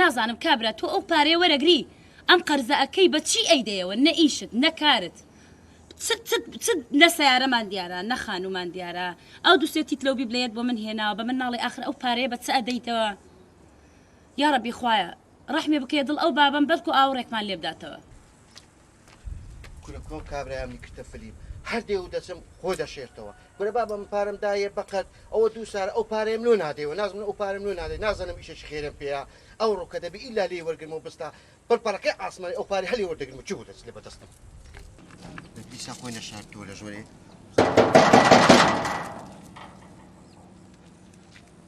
نازانم کابرا تۆ ئەو پارەیە وەرەگری ئەم قەرزە ئەکەی بە چی ئەیدەیەوە نە ئیشت نە کارت چ چ چ نە سەیارەمان دیارە نە خانومان دیارە ئەو دوو سێ تیت لەو بیبلەیەت بۆ من هێناوە بە من ناڵێ ئاخر ئەو پارەیە بە چ ئەدەیتەوە یاڕەبی خوایە ڕەحمی بکەیە دڵ ئەو بابەم بەلکو ئاوڕێکمان لێبداتەوە. کورە کۆ کابرایانی کردە فلیم هەر دێ و دەچم خۆ دەشێرتەوە کورە بابە من پارەم دایە بەقەت ئەوە دوو سارە ئەو پارەیەم لۆ نادەیەوە نازمن ئەو پارەم لۆ نادەی نازانم ئیشێکی خێرم پێەیە ئەو ڕووکە دەبی ئیلا لێی وەرگرمەوە بستا پڕپەڕەکەی ئاسمانی ئەو پارە هەلی وەردەگرم و چی بوو دەست لێ بەدەستم دیسا خۆی نەشاردووە لە ژۆرێ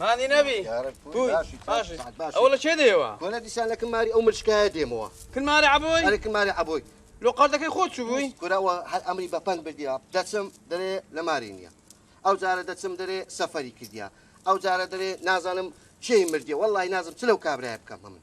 مانی نەبی ئەو لە چێ دێوە کۆنە دیسان لە کماری ئەو ملشکایە دێمەوە کمارە عبۆی ئەرە کمارە عبۆی لۆ قەردەکەی خۆت چوو بووی کوراوە هەر ئەمری بە پەنگ بردیا دەچم دەرێ لە ماری نییە ئەو جارە دەچم دەرێ سەفەری کردیا ئەو جارە دەرێ نازانم چێی مردێ وەڵی نازم چ لەو کابرای بکەم هەمن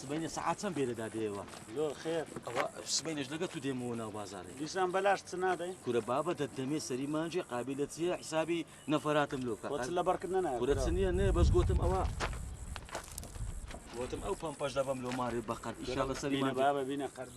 سبەینێ سەعات چەند بێرەدا دێوە زۆر خێر ئەوە سبەینێش لەگە تو دێمەوە ناو بازارێ دیسان بەلاش چ نادەی کورە بابە دەتدەمێ سەری مانجێ قابلە چیە حسابی نەفەراتم لۆکە لە بەرکردنە نایە کورە چ نییە نێ بەس گوتم ئەوە گوتم ئەو پەمپەش دەبەم لۆ مارێ بەقەر ئیشاڵە سەری بابە بینە قەرد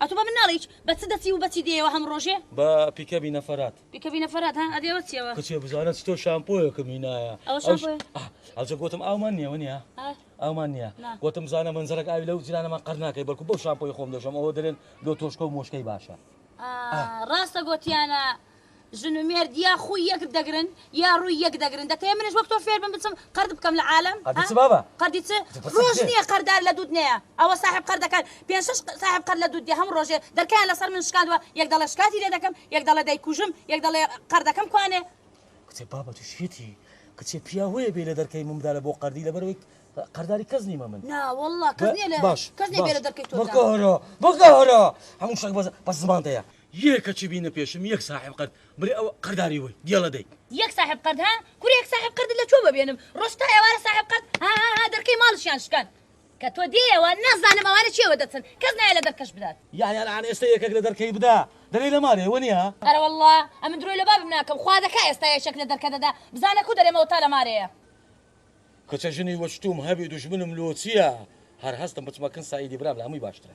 ئەتو بە من ناڵێیچ بە چ دەچی و بە چی دێیەوە هەموو ڕۆژێ؟ بە پیکەبی نەفەرات. پیکەبی نەفەرات ها ئەدی ئەوە چیەوە؟ کچێ بزانە چ تۆ شامپۆیەکم هینایە. ئەوە شامپۆیە؟ ئەه ئەوجە گۆتم ئاومان نیە وەنیە؟ ئەه ئاومان نیە. نا. گۆتم بزانە مەنجەڵەک ئاوی لەو جلانەمان قەر ناکەی بەڵکو بەو شامپۆیە خۆم دەشۆم ئەوە دەرێن لۆ تۆشکە و مۆشکەی باشە. ئا ڕاستە گۆتیانە ژن و مێرد یا خوی یەک دەگرن یا روی یەک دەگرن دەتەوێ منیش وەک تۆ فێر بم بچم قەرد بکەم لە عالەم ها قەردی چ بابە قەردی چ روژ نیە قەردار لە دوت نەیە ئەوە ساحێب قەردەکان پێنج شەش ساحێب قەرد لە دوت دێ هەمو رۆژێ دەرکەیان لەسەر من شکاندوە یەک دەڵێ شکاتی لێ دەکەم یەک دەڵێ دەیکوژم یەک دەڵێ قەردەکەم کوانێ. کچێ بابە تو شێتی کچێ پیاوەیە بێ لە دەرکەی من بدالە بۆ قەردی لەبەرەوەی قەرداری کەس نیمە من نا واللە کەس نیە لە باش کەس نیە بێ لە دەرکەی تۆ باش بدا. بکە هەرا بکە هەرا هەمو شتێک بەس زمان دەیە. یێ کەچی بینە پێشم یەک ساحێب قەرد برێ ئەوە قەرداری وەی گێڵە دەیت. یەک ساحێب قەرد ها کورە یەک ساحێب قەردت لە کوێ بەبێنم ڕۆژ تا ئێوارە ساحێب قەرد ها ها ها دەرکەی ماڵشیان شکان کە تۆ دێیەوە نازانم ئەوانە چێوە دەچن کەس نایە لە دەرکەش بدات. یەعنی ئەلان ئێستە یەکەک لە دەرکەی بدا دەرێی لە مارێ وە نیە. ئەرەوەڵڵا ئەمن درۆی لە بابم ناکەم خوا دەکا ئێستا یەکێک لە دەرکە دەدا بزانە کو دەرێمەوە تا لە مارێیە. کچە ژنی وەچ توم هەبی دوژمنم لۆچیە هەر هەستم بچمە کن سەعیدی برام لە هەموی باشترە.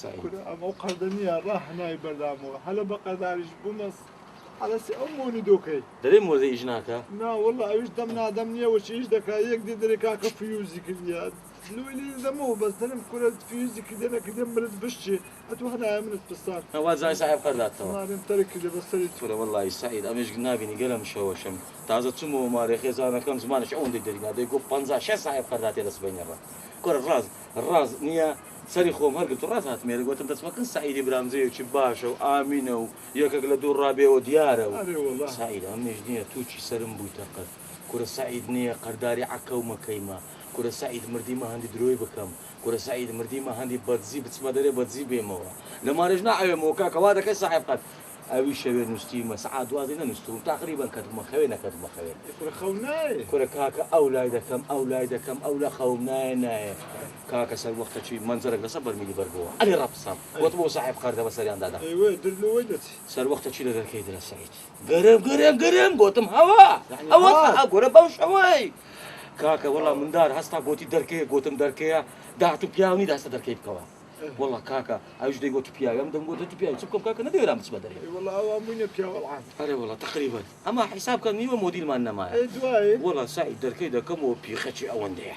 سەعید. کورە ئەمەو قەردە نیە ڕا هەنای بەردامەوە هەلە بە قەرداریش بمەس عەرەسی ئەو مۆنی دۆکەی. دەرێ مۆزە ئیش ناکا. نا واللە ئەویش دەم نادەم نیە وەچی ئیش دەکا یەک دێ دەرێ کاکە فیوزی کردیە لۆی لێی دەمەوە بەس دەرێم کورە فیوزی کردیە نەکردیە ملت بشچێ ئەتو هەنایە منت پسان نا وازانی ساحێب قەردات تەوە. مارێم تەرک کردیە بە سەری تو. کورە وەللەی سەعید ئەمێشک نابینی گەر ئەم شەوە شەم تازە چومەوە مارێ خێزانەکەم زمانێش ئەوەندەی دەری نا دەی گۆ پەنجا شەست ساحێب قەرداتێ لە سبەینێ ڕا کورە ڕاز ڕاز نیە. سەری خۆم هەرگرت و ڕاست هاتمێرە گۆتم دەچمە کن سەعیدی برام جێیەکی باشە و ئامینە و یەکەک لە دوو ڕابێوە دیارە و ئەرێ وەڵا. سەعید ئەمنیش نیە توو چی سەرم بوویتە قەت کورە سەعید نیە قەرداری عەککە و مەکەیمە کورە سەعید مردیمە هەندی درۆی بکەم کورە سەعید مردیمە هەندی بەدزی بچمە دەرێ بەدزی بێمەوە لە مارێش ناعەوێمەوە کاکە وا دەکەی سەحێب قەت ئەوی شەوێ نوستیمە سەعات دوازدەی نەنوستووم تەقریبەن کەتبوومە خەوێ نەکەتبوومە خەوێ ئەی کورە خەو نایێ. کورە کاکە ئەو لای دەکەم ئەو لای دەکەم ئەو لە خەوم نایێ نایێ. کاکە سەر وەختە چی مەنجەرەک لەسەر بەرمیلی بەر بۆوە ئەرێ ڕەپسام گۆتم ئەوە ساحێب قەردە بە سەریان دادا ئەیوە در لەوەی دەچی. سەر وەختە چی لە دەرکەی درە سەعید گەرم گەرم گەرم گۆتم هەوا یەعنی هەوا هەوا ئەگۆرە بەو شەوەی کاکە وەڵا مندار هەستا گۆتی دەرکەیە گۆتم دەرکەیە داهاتوو پیاو نی دەهستە دەرکەی بکەوە وەڵا کاکە ئەویش دەیگۆت تو پیاوی ئەم دەمگۆت هەتو پیاوی چ بکەم کاکە نەدەیرام بچمە دەرێ ئەی وەڵا ئەوان بوینە پیاو ئەڵعان. ئەرێ وەڵا تەقریبەن ئەما حیساب کە نیوە مۆدیلمان نەمایە ئەی دوایی. وەڵا سەعید دەرکەی دەکەمەوە پیخەچی ئەوەندەیە.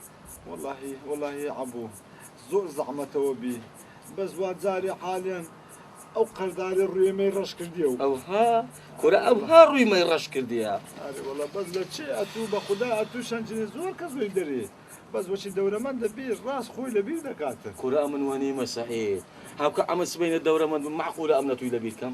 وەڵاهی وەڵاهی عەبوو زۆر زەعمەتەوە بی بەس وا جارێ حالیان ئەو قەرداری ڕوێ مەی ڕەش کردیە و ئەوها کورە ئەوها ڕووی مەی ڕەش کردیە ئاری وەڵا بەس لە چێ ئەتوو بە خودا ئەتوو شەنجنی زۆر کە زۆی دەرێ بەس وەچی دەورەمەند دەبی ڕاست خۆی لە بیر دەکاتن کورە ئەمن وەنیمە سەعید هاوکە ئەمە سبەینە دەورەمەند بم مەعقولە ئەم نەتووی لە بیر کەم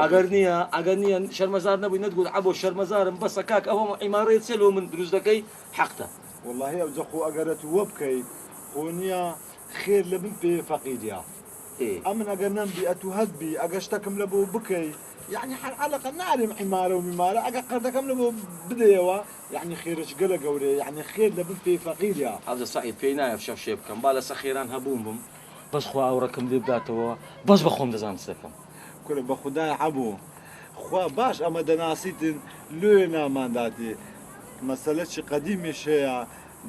ئەگەر نیە ئەگەر نیە شەرمەزار نەبووی نەت گوت عەبۆ شەرمەزارم بەسە کاک ئەوە عیمارەیە چیە لۆ من دروست دەکەی حەقتە. وەڵاهی ئەوجە خۆ ئەگەرت وەبکەی خۆ نیە خێر لە بن پێیە فەقیریە ئەمن ئەگەر نەمبی ئەتوو هەتبی ئەگەر شتەکم لە بۆ بکەی یەعنی حەر عەلەقە نارێم عیمارە و میمارە ئەگەر قەردەکەم لە بۆ بدەیەوە یەعنی خێرەکی گەلە گەورەیە یەعنی خێر لە بن پێی فەقیریە. ئەوجە سەعید پێی نایە فشە شێ بکەم با لەسە خێران هەبووم بم بەس خوا ئەوڕەکەم لێ بداتەوە بەس بە خۆم دەزانم چ دەکەم کورە بەخودای عەبۆ خوا باش ئەمە دەناسیتن لۆیە نامانداتی مەسەلە چی قەدیمیش هەیە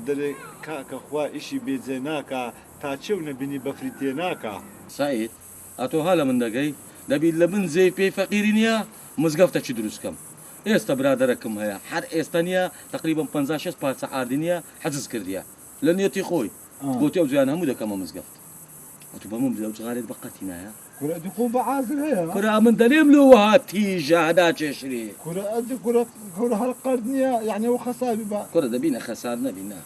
دەرێ کاکە خوا ئیشی بێ جێ ناکا تا چێو نەبینی بەفری تێ ناکا. سەعید ئەتۆ ها لە من دەگەی دەبی لە بن جێی پێی فەقیری نیە مزگەفتە چی دروست کەم ئێستە برادەرە کم هەیە هەر ئێستە نیە تەقریبەن پەنجا شێست پارچە ئاردی نیە حجز کردیە لە نیەتی خۆی گۆتی ئەوجە یان هەموو دەکەمە مزگەفت ئەتو بە من بلێ ئەو جغارەت بە قەتی نایە کورە ئەدی قوو بە عازر هەیە. کورە ئەمن دەلێم لۆ وەها تیژە ناکێشرێ. کورە ئەدی کورە کورە هەر قەرد نیە یەعنی ئەوە خەساوی بە. کورە دەبی نە خەسار نەبی نە.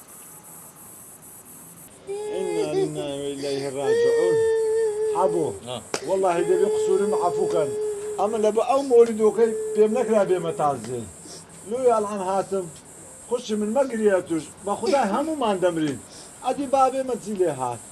انا لله و الیه راجعون حەبۆ وەڵاهی دەبێ قسورم عەفو کەن ئەمن لەبە ئەو مۆلیدۆکەی پێم نەکرا بێمە تازێ لۆیە ئەلعان هاتم خوشی من مەگریە توش بەخودای هەموومان دەمرین ئەدی بابێمە چی لێ هات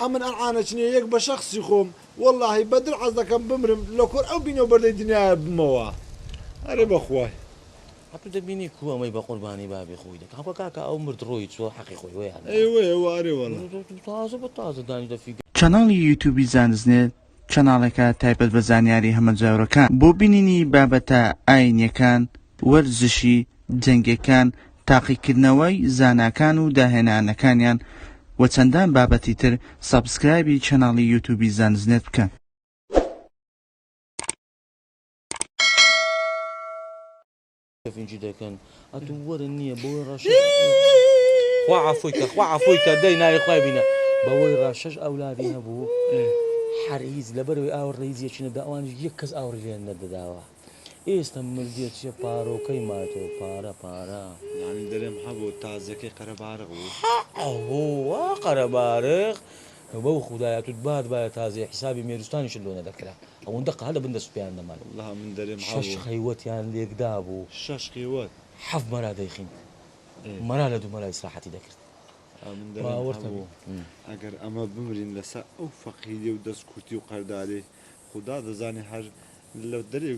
ئەمن ئەلعانە چنێ یەک بە شەخسی خۆم وەلاهی بە دل عەزدەکەم بمرم لە کۆر ئەو بینە و بەردەی دنیایە بمەوە ئەرێ بە خوای. ئە تو دەبینی کو ئەمەی بە قوربانی بابی خۆی دەکا خۆ کاکە ئەو مرد ڕۆی چوە حەقی خۆی وەیە هەر ئەی وەیە وە ئەرێ وەلا. تازە بە تازە دانی دە فیگە. چەناڵی یوتوبی زانستنێت چەناڵێکە تایبەت بە زانیاری هەمەجۆرەکان بۆ بینینی بابەتە ئاینیەکان، وەرزشی جەنگیەکان، تاقیکردنەوەی زاناکان و داهێنانەکانیان و چەندان بابەتی تر، سەبسکرایبی چەناڵی یوتوبی زانستنێت بکەن. ئێستە مردیە چیە پارۆکەی ماتۆ پارە پارە. یانی دەرێم هەبوو تازیەکەی قەرەباڕق بوو. هە هۆ وا قەرەباڕق بەو خودایە توت بات بایە تازیە حیسابی مێروستانیشت لۆ نەدەکرا ئەوەندە قەهە لە بن دەست پیان دەمان. وەڵا من دەرێم هەبوو. شەش خەیوەتیان لێکدابوو. شەش خیوەت. حەفت مەرا دەیخیند مەرا لە دوو مەرا ئیسراحەتی دەکرد. من دەرێم هەبوو ئەگەر ئەمە بمرین لەسە ئەو فەقیری و دەست کورتی و قەرداری خودا دەزانێ هەر لە دەرێ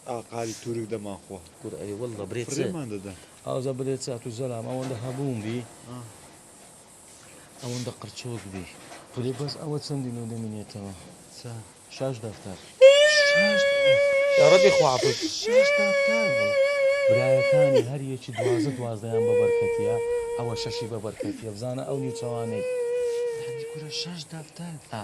ئاقاری تورک دەمان خوا کورە ئەی واللە برێ چ فڕێمان دەدەن ئازا برێ چ تو زەلام ئەوەندە هەبوون بی ئەوەندە قرچۆک بی برێ بەس ئەوە چەندی لۆ دەمینێتەوە چا شاش دەفتەر یا ربی خوا عەفوت شاش دەفتەر برایەکانی هەر یەکی دوازدە دوازدەیان بە بەرکەتیە ئەوە شەشی بە بەرکەتیە بزانە ئەو نیوچەوانەی هەندی کورە شاش دەفتەر ئا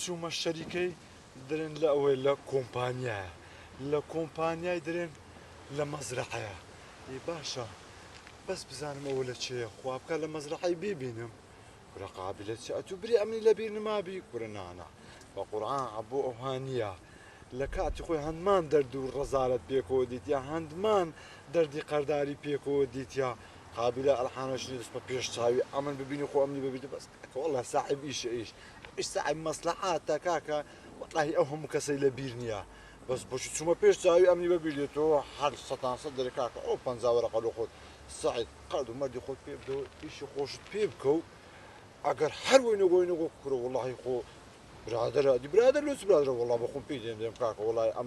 چومە شەریکەی درێن لە ئەوەی لە کۆمپانیایە لە کۆمپانیای درێن لە مەزرعەیە ئی باشە بەس بزانم ئەوە لە چێە خوا بکە لە مەزرعی ببینم کورە قابلە چ ئەتو بری ئەمنی لەبیر نمابی کورە نانا بە قورآن عەبۆ ئەوها نییە لە کاتی خۆی هەندمان دەرد و ڕەزارت پێکەوە دیتیا هەندمان دەردی قەرداری پێکەوە دیتیا قابلە ئەلحانەشنی دەست بە پێش چاوی ئەمن ببینی خۆ ئەمنی ببیت بەس کەوەڵە ساحب ئیشە ئیش سەعی مەسلەحاتە کاکە وەڵاهی ئەو هەموو کەسەی لە بیر نییە بەس بۆچی چوومە پێش چاوی ئەمنی بە بیرێتەوە هەر سەتان سەد دەرێ کاکە ئەو پەنجا وەرەقە لۆ خۆت سەعید قەد و مەردی خۆت پێ بدەوە ئیشی خۆشت پێ بکە و ئەگەر هەر وەی نەگۆی نەگۆ کورە وەڵاهی خۆ برادەرە دی برادەر لۆ چ برادەرە وەڵا بە خۆم پێی دێنێم کاکە وەڵای ئەم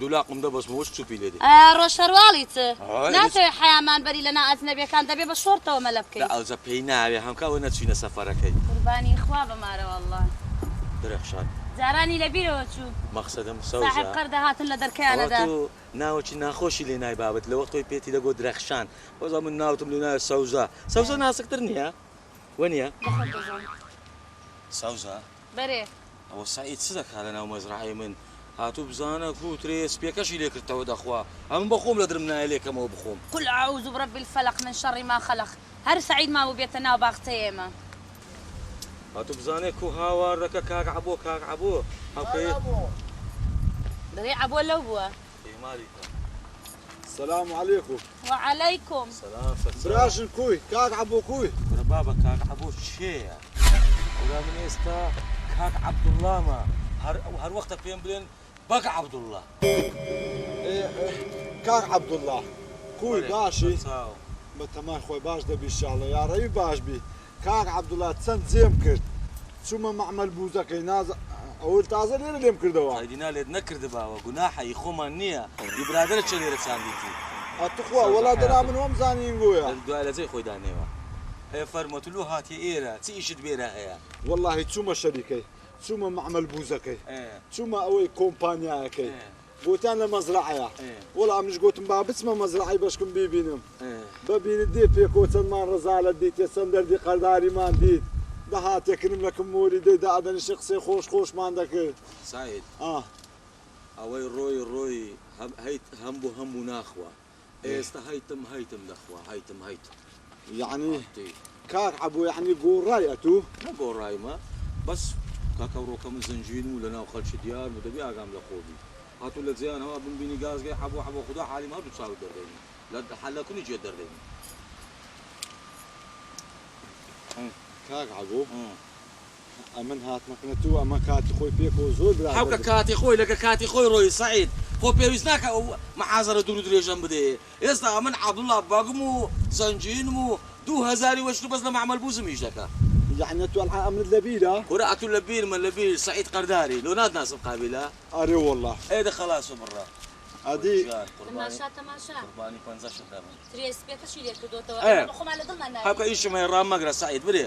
دوو لاقم دەبەستمەوە شچوپی لێ دێ. ڕۆژ شەرواڵیت ناتەوێ حەیامان بەری لە نا ئەجنەبیەکان دەبێ بە شۆڕتەوە مەلە بکەی. دە ئەوجە پێی ناوێ هەم کە وە نەچوینە سەفەرەکەی. قوربانی خوا بە مارە واللە. درەخشان. جارانی لە بیرەوە چوو. مەقسەدم سەوزە. ساحێب قەر دەهاتن لە دەرکەیانە دا. ئەوە تۆ ناوەکی ناخۆشی لێ نایبابت لەوە تۆی پێتی دەگۆت درەخشان وەزە من ناوتم لێ نایە سەوزە سەوزە ناسک تر نیە وە نیە. لە خۆت دەزانی. سەوزە. بەرێ. ئەوە سەعید چ دەکا لە ناو مەزرەعەی من؟ هاتوو بزانە کوو ترێ سپیەکەشی لێ کردتەوە دەخوا ئەمن بە خۆم لە درم نایە لێ کەمەوە بخۆم. قل اعوذ برب الفلق من شر ما خلق هەر سەعید مابوو بێتە ناو باخچەی ئێمە. هاتوو بزانێ کوو هاواردەکە کاک عەبۆ کاک عەبۆ ئەو کەیە. برای عەبۆ لەو بووە. پەیماری کە. سلام علیکم. وعلیکم. سلام سەرچاوە. براژن کوی؟ کاک عەبۆ کوی؟ کورە بابە کاک عەبۆ کێیە؟ کورە من ئێستا کاک عەبدوڵامە هەر هەر وەختە پێم بلێن بەگ عەبدوڵا. کاک عەبدوڵا کوی باشی؟ بەتەمای خۆی باش دەبی شاڵە یاڕەبی باش بی. کاک عەبدوڵا چەند جێم کرد چومە مەعمەل بوزەکەی ناز ئەوە تازە لێرە لێم کردەوە. ئایدینا لێت نەکردباوە گوناحە هی خۆمان نیە هی برادەرە چیە لێرە چاندیتی. ئە توخوا وەڵا دەنا من وەم زانی ئینگۆیە. دوای لەجێی خۆی دانێوە. ئێ فەرموە تو لۆ هاتیە ئێرە چ ئیشت بێرە هەیە. وەڵاهی چومە شەریکەی چومە مەعمەل بوزەکەی چومە ئەوەی کۆمپانیایەکەی. گۆتیان لە مەزرەعەیە وەڵا منیش گۆتم با بچمە مەزرەعەی بەشکم بیبینم بە بینت دێ پێکۆ چەندمان ڕەزالەت دیتێ چەند دەردی قەرداریمان دیت دەهاتێ کنم لە کم مۆری دەی دا ئەدەنیشێ قسەی خۆش خۆشمان دەکرد سەعید ئەوەی ڕۆی ڕۆی هەم هەیت هەم بۆ هەم بوو ناخوا. ئێستا هەیتم هەیتم دەخوا هەیتم هەیتم یەعنی ئەتەی کاک عەبوو یەعنی گۆڕای ئەتوو؟ نەگۆڕایمە بەس کاکە ڕۆکە من زنجیرم و لەناو خەڵکی دیار بوو دەبێ ئاگام لە خۆ بی هاتوو لە جێیان هەوا بمبینی گازگەی عەبوو عەبوو خودا حالیم هەردوو چاوت دەردەینێ لە لە کونی جێت دەردەینێ کاک عەبوو ئەمن هاتمە کنە تو ئەمە کاتی خۆی پێ کەوە زۆر برادەر بوو. حەوکە کاتی خۆی لەگە کاتی خۆی ڕۆی سەعید خۆ پێویست ناکا ئەو محازەرە دوور و درێژەم بدەیێ ئێستا ئەمن عەبدوڵا بەگم و زەنجیرم و دوو هەزاری وەشتر بەس لە مەعمەل بوزم ئیش دەکا. یەعنی ئەتو ئەلعان ئەمنت لە بیرە؟ کورە ئەتو لە بیرمە لە بیر سەعید قەرداری لۆ ناتناسم قابیلە؟ ئەرێ وەڵا. ئێ دە خەلاسە بڕە. ئەدی. وەی گیان قوربانی قوربانی پەنجەشت دەبم. ئەیە حەوکە ئیشم هەیە ڕام مەگرە سەعید برێ.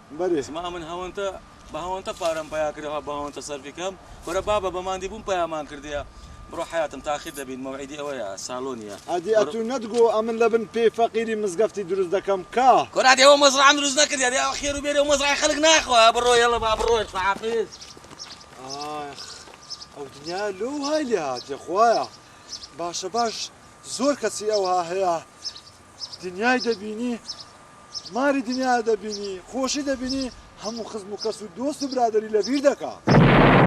بەرێز ما ئەمن هەونتە بە هەونتە پارەم پەیا کردە ها بە هەونتە سەرفی کەم کورە بابە بە ماندی بووم پەیامان کردیە بڕۆ حەیاتم تاخیر دەبین مەوعیدی ئەوەیە سالۆ نیە ئەدی بڕۆ ئەتوو نەتگۆ ئەمن لە بن پێی فەقیری مزگەفتی دروست دەکەم کا. کورە دێ ئەوە مەزڕەعەم دروست نەکردیە دێ ئەوە خێرو بێری ئەو مەزڕەعەی خەلک ناخوا بڕۆ یەڵە با بڕۆین خوەحافیز. ئاخ ئەو دنیایە لۆ وهای لێهاتیە خوایە باشە باش زۆر کەسی ئەوها هەیە دنیای دەبینی ماری دنیا دەبینی خۆشی دەبینی هەموو خزم و کەس و دۆست و برادەری لەبیر دەکا.